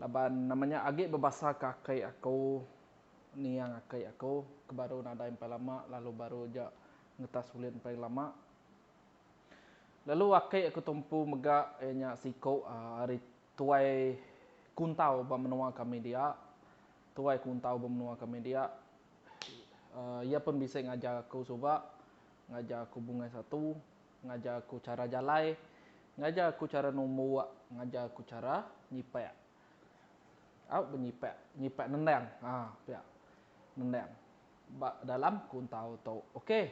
Laban nama nya agi bebasa ke aki aku niang aki aku ke baru nadai empai lama lalu baru aja ngetas ulih empai lama. Lalu aki aku tu empu mega iya nya siku ari tuai kuntau ba menua kami dia, tuai kuntau ba menua kami dia iya pun bisi ngajar aku suba, ngajar aku bungai satu. Ngajar aku chara jalai. Ngajar aku chara numbuk. Ngajar aku chara nyipak. Au benyipak. Nyipak nendang. Ha, pia. Nendang. Ba dalam kuntau tu. Okey.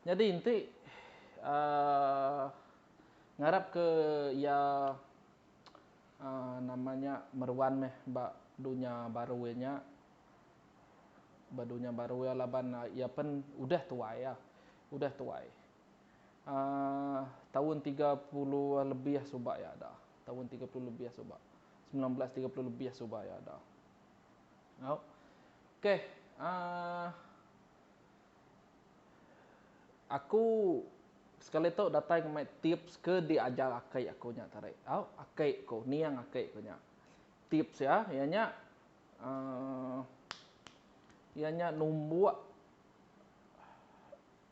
Nyadi enti aaa ngarapka iya aaa nama nya meruan meh ba dunya baru iya nya. Ba dunya baru iya laban iya pen udah tuai iya. Udah tuai. taun tiga puluh lebih suba iya ada taun tiga puluh lebih suba semilan belas tiga puluh lebih suba iya ada au ok aa aku sekali tu datai ke mai tips ke di ajar aki aku nya tadi au aki ku niang aki ku nya tips iya iya nya aa iya nya numbuk.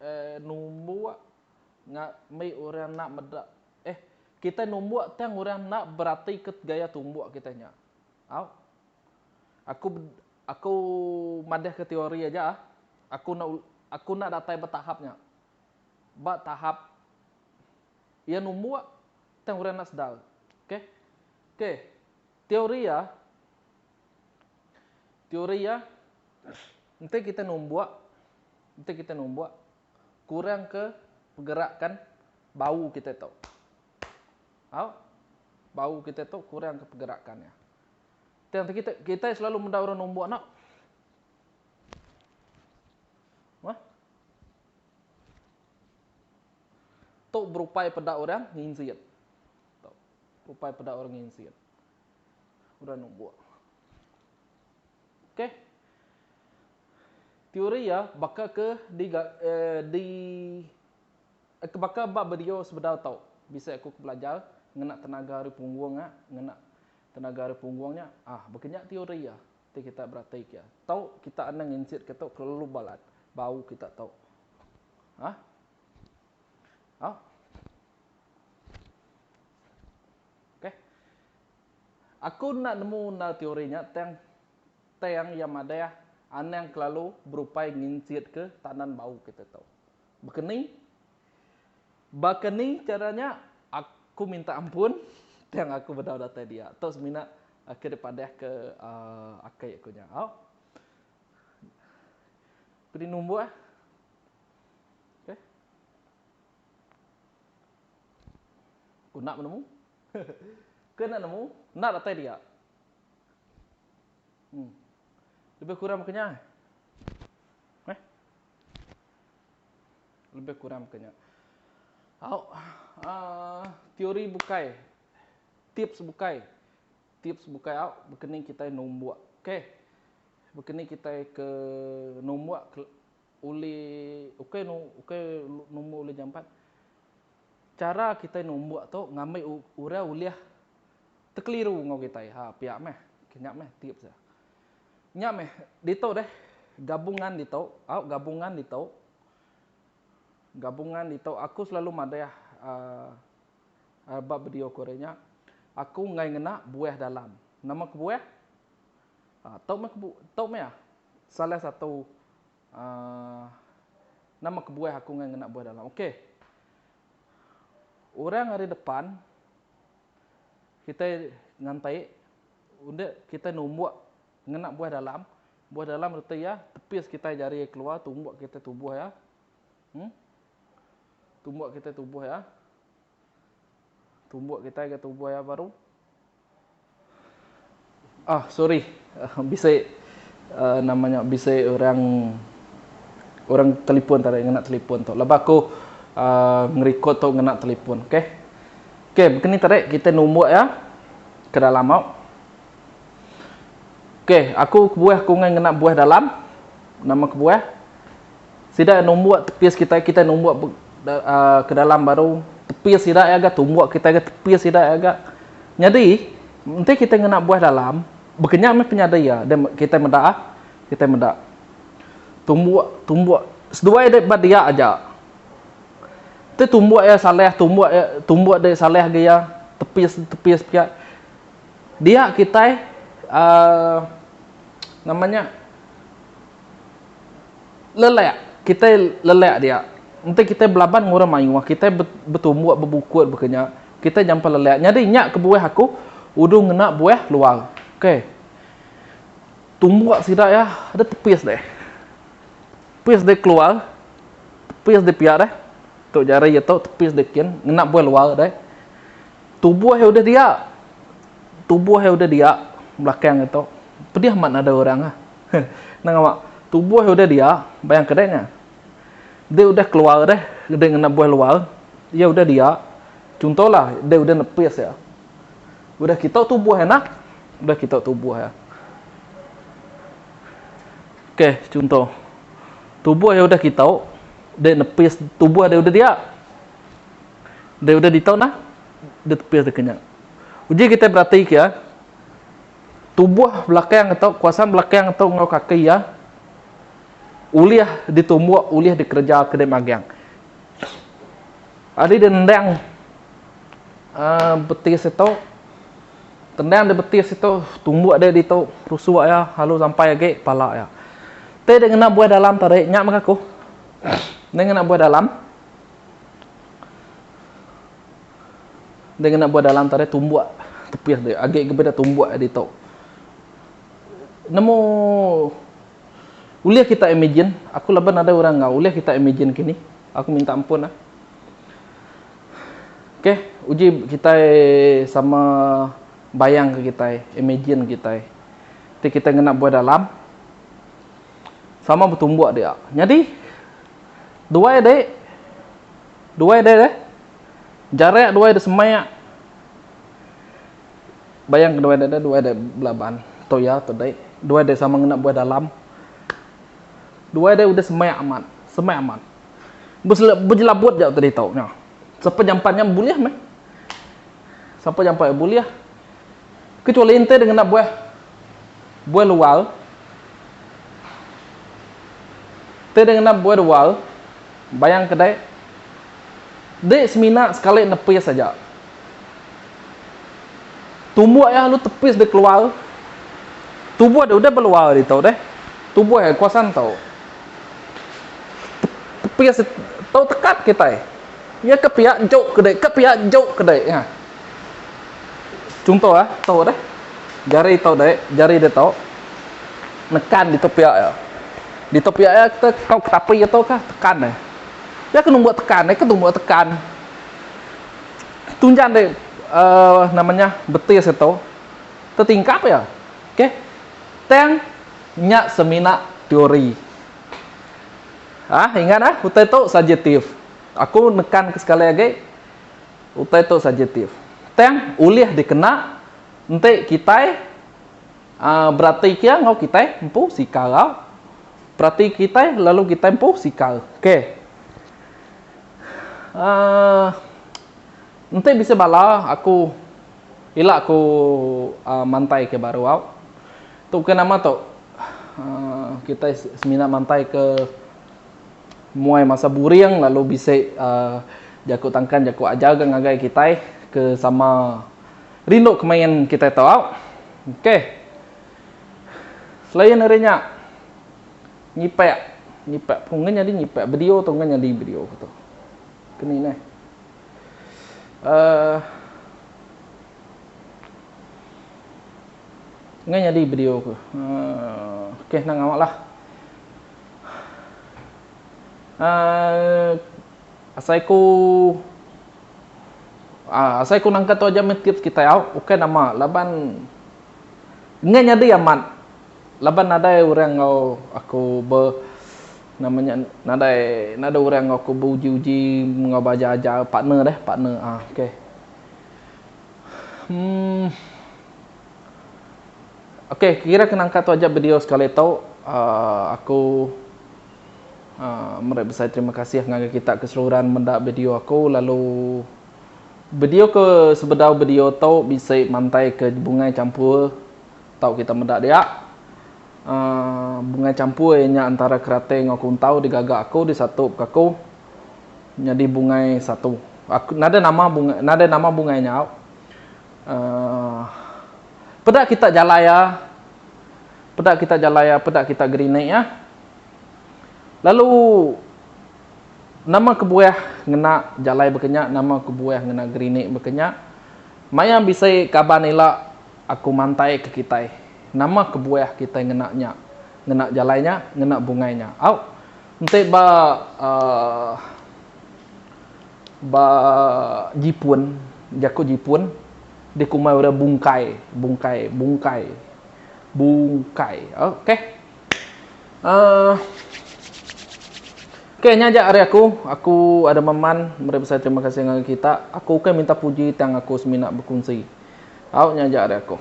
Eh numbuk nga mih orang enda meda eh kitai numbuk tang orang enda beratika gaya tumbuk kitai nya. Au. Aku aku madahka teori aja ah. Aku enda aku enda datai ba tahap nya. Ba tahap iya numbuk tang orang enda sedar. Okey. Okey. Teoria, teoria enti kita numbuk, enti kita numbuk kurangka pergerakan bau kita tu. Au? Bau kita tu kurangka pergerakan dia. Tang kita kita selalu meda orang numbuk nak. Wah. Tu berupai peda orang nginjit. tau rupai peda orang nginsit udah numbuk. Okey. Teori iya baka ke di di ke baka ba bedio sebedau tau bisi aku ke belajar ngena tenaga ari punggung nya ngena tenaga ari punggung nya ah baka nya teori iya ti kita berati ke iya tau kita anang nginsit ke tu kelalu balat baru kita tau. Hah. Au. Okey. Aku enda nemu endar teori nya tang tang iya madah anang kelalu berupai nginsitka tandan bau kita tu. Baka ni baka ni chara nya aku minta ampun tang aku bedau datai dia. Tu semina ke dipadahka aaa akai aku nya. Au. Ku di numbuh. Okey. Ku enda menemu. Ke enda nemu, enda datai dia. Em. Lebih kurang maka nya. Eh. Lebih kurang maka nya. Au. Uh, teori bukai. Tips bukai. Tips bukai au bekening kita nombok. Okey. Bekening kita ke nombok ulih ukai nu ukai numbu ulih jampat chara kitai numbuk tu ngambi orang ulih tekeliru enggau kitai ha pia meh ke nya meh tips dia. Nya meh ditu deh gabungan ditu au gabungan ditu gabungan ditu aku selalu madah um ba video ku ari nya aku enggai ngena buah dalam nama kebuah Tau meh kebu tau meh ah salah satu aah nama kebuah aku ngan ngena buah dalam ok orang ari depan kitai ngantai unda kitai numbuk ngena buah dalam buah dalam reti iya tepis kitai jari iya keluar tumbuk kitai tubuh iya em tumbuk kitai tubuh iya tumbuk kitai ga tubuh iya baru. Ahh sorry bisi nama nya bisi orang orang telefon tadi ngena telefon tu laban aku uhh ngerecord tu ngena telefon ok ok begini tadi kita numbuk iya ke dalam au ok aku kebuah aku ngena buah dalam nama kebuah. Sida numbuk tepis kitai, kitai numbuk be uh, ke dalam baru tepis sida ya ga tumbuk kitai ga tepis sida ya ga. Nyadi enti kitai ngena buah dalam bekenyang meh penyadi ya dan kitai meda ah kitai meda tumbuk tumbuk seduai dek ba dia aja te tumbuk ya salah tumbuk ya tumbuk dek salah ga ya tepis tepis pia dia kitai uh nama nya. lelak kitai lelak dia enti kitai belaban enggau orang mayuh kitai betumbuk bebukut baka nya kitai nyampah lelak nyadi nya kebuah aku uduh ngena buah luar ok tumbuk sida iya deh tepis deh tepis deh keluar tepis deh pia deh tu jari iya tu tepis deh kin ngena buah luar deh tubuh iya udah dia tubuh iya udah dia belakang iya tu pedih amat nadai orang ah. Endang awak tubuh udah dia, bayang kedai nya. Dia udah keluar deh, dia ngena buah luar, iya udah dia. Chunto lah, dia udah nepis iya. Udah kita tubuh iya nah, udah kita tubuh iya. Okey, chunto. Tubuh iya udah kita, dia nepis tubuh dia udah dia. Dia udah ditau nah, dia tepis dia kenya. Uji kita berati kia, Tubuh belakang tu, kuasan belakang tu enggau kaki iya ulih ditumbuk, ulih dikereja ke dek magang. Ari dendang uh, betis itu, dendang di betis itu, tumbuk dek di tu, rusuk iya, lalu sampai lagi pala iya. Teh dia kena buah dalam tarik, nyak mengaku. Dia kena buah dalam. Dia ngena buah dalam tadi tumbuk tepis dia. Agi ke beda tumbuk ditu. Nemu ulih kita imagine, aku laban ada orang enggau, ulih kita imagine kini. Aku minta ampun ah. Okey, uji kitai sama bayang ke kitai, imagine kitai. Ti kita ngena buah dalam sama betumbuk dia. Nyadi duai dek Duai deh deh. Jarak duai deh semak. Bayang ke duai deh deh duai deh belaban. Toya tedek. Duai deh sama ngena buah dalam. Duai deh udah semak amat. Semak amat. Bejelabut jauh tadi tau nya. Sapa jampat nya bulih meh. Sapa jampat bulih. Kecuali enti deh ngena buah buah lual. Enti deh ngena buah lual, bayang ke deh, deh semina sekali nepis aja. Tubuh iya lalu tepis deh keluar. Tubuh deh udah beluar ditu deh. Tubuh iya kuasa entu. Tepis tu tekat kitai. Iya ke piak juk ke deh, ke piak juk ke deh. Chunto ah tau deh jari tau deh jari deh tau nekan di tepiak iya. Di tepiak iya kita tau ke tapi iya tau kah tekan deh. Iya ke numbuk tekan deh ke tumbuk tekan. Tunjang deh uhh nama nya betis iya tau tetingkap iya okay. Tang nya semina teori ah ingat ah utai tau subjektif aku nekan ke sekali agi. Utai tu subjektif. Tang ulih dikena enti kitai beratika enggau kitai empu sikal. Berati kitai lalu kitai empu sikal. K. Enti bisi bala aku ila aku mantaika baru au. Tu ke nama tu kitai semina mantaika. Muai masa buring lalu bisi jaku tangkan jaku ajar ga ngagai kitai ke sama rindu ke main kitai tau. Ok. Selain ari nya nyipak nyipak pun ngan nyadi nyipak video tu ngan nyadi video ke tu. Ke ni neh. Uh ngan nyadi video ke. Uh ok nang awa lah. asai ku asai ku nangka tu aja meh tips kitai au ukai nama laban enggai nyadi amat laban nadai orang enggau aku be nama nya nadai nadai orang enggau aku beuji-uji enggau ba aja-aja partner deh partner a okay. Okay, kira kena angkat tu aja video sekali tu. Uh, aku uh, meri besai terima kasih ngagai kita keseluruhan menda video aku lalu video ke sebedau video tu bisi mantai ke bungai campur tau kita meda dia. Uh, bungai campur iya nya antara keratai enggau kuntau digaga aku disatu ke aku nyadi bungai satu. Aku nada nama bungai nada nama bungai nya. Uh, Peda kita jalai iya. Peda kita jalai iya, peda kita gerinik iya. Lalu nama kebuah ngena jalai bekenya, nama kebuah ngena gerinik bekenya. Maya bisi kaban ila aku mantai ke kitai, nama kebuah kitai ngena nya, ngena jalai nya, ngena bungai nya. Au enti ba uhh ba jipun, jaku jipun. dikumbai orang bungkai, bungkai, bungkai, bungkai. Okey. Uh, Okey, nya aja ari aku. Aku ada meman meri besai terima kasih ngagai kita. Aku ukai minta puji tang aku semina bekunsi. Au nya aja ari aku.